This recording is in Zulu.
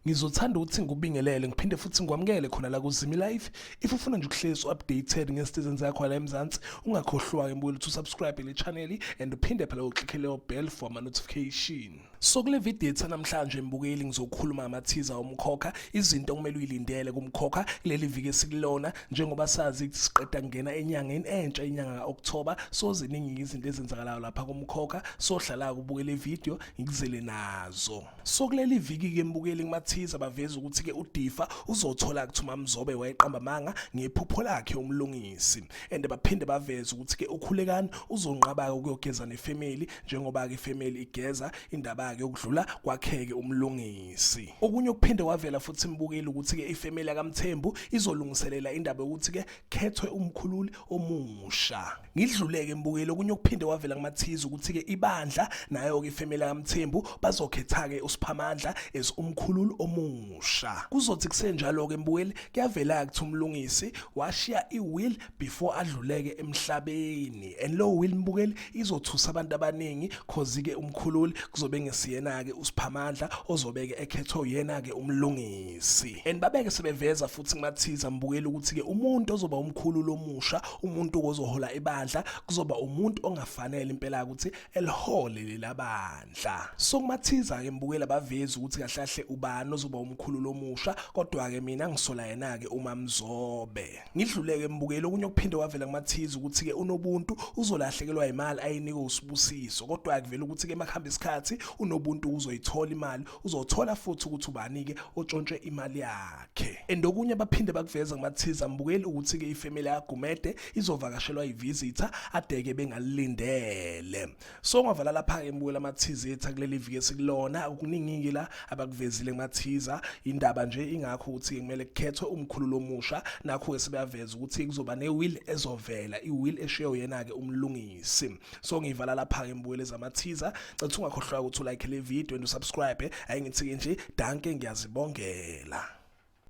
ngizothanda ukuthi ngikubingelele ngiphinde futhi ngikwamukele khona la kuzimi life if ufuna nje ukuhlezi updated ngezinto ezenzakho la emzansi ungakhohlwa ke mbuyela ukuthi usubscribe le channel and uphinde phela uclickele bell for ama notification So kule video ethu namhlanje mbukeli ngizokhuluma amathiza omkhokha izinto okumele uyilindele kumkhokha kuleli viki esikulona njengoba sazi ukuthi siqeda kungena enyangeni entsha inyanga kaOctober so ziningi izinto ezenzakalayo lapha kumkhokha so hlala kubuke le video ngikuzele nazo so kuleli viki ke mbukeli kumathiza baveza ukuthi ke uDifa uzothola kuthuma mzobe wayeqamba manga ngephupho lakhe umlungisi and baphinde baveza ukuthi ke ukhulekani uzonqaba ukuyogeza nefamily njengoba-ke ifemeli igeza indaba yakhe yokudlula kwakheke umlungisi okunye okuphinde kwavela futhi imbukile ukuthi-ke ifemeli yakamthembu izolungiselela indaba yokuthi-ke khethwe umkhululi omusha ngidluleke mbukile okunye okuphinde kwavela kumathiza ukuthi-ke ibandla nayo-ke ifemeli yakamthembu bazokhetha-ke usiphamandla as umkhululi omusha kuzothi kusenjalo-ke mbukeli kuyavela-ke ukuthi umlungisi washiya iwill before adluleke emhlabeni and lo will mbukeli izothusa abantu abaningi cause ke umkhululi kuzobe ngesiyena ke usiphamandla ozobeke ekhethwa uyena ke umlungisi and babeke sebeveza futhi kumathiza mbukeli ukuthi ke umuntu ozoba umkhululi omusha umuntu ozohola ibandla kuzoba umuntu ongafanele impela ukuthi elihole lelabandla so kumathiza ke mbukeli abavezi ukuthi kahlahle ubani ozoba umkhululi omusha kodwa ke mina ngisola yena ke umamzobe Ngidluleke mbukeli okunye okuphinde kwavela kumathiza ukuthi-ke unobuntu uzolahlekelwa imali ayinikwe usibusiso kodwa-ke kuvela ukuthi-ke emakuhamba isikhathi unobuntu uzoyithola imali uzothola futhi ukuthi ubani-ke otshontshe imali yakhe and okunye baphinde bakuveza kumathiza mbukeli ukuthi-ke ifemeli yagumede izovakashelwa ivisitha adeke bengalilindele so ngavala lapha-ke mbukela amathize ethu akuleli viki esikulona okuningi-ke la abakuvezile kumathiza indaba nje ingakho ukuthi-ke kumele kukhethwe umkhululo omusha nakho-ke sebeyaveza ukuthi kuzoba ne-will ezovela i-will eshiye uyena-ke umlungisi so ngiyivala lapha-ke mbukela ezamathiza cathi ungakhohlwa ukuthi ulike le video and usubscribe ayingithi-ke nje danke ngiyazibongela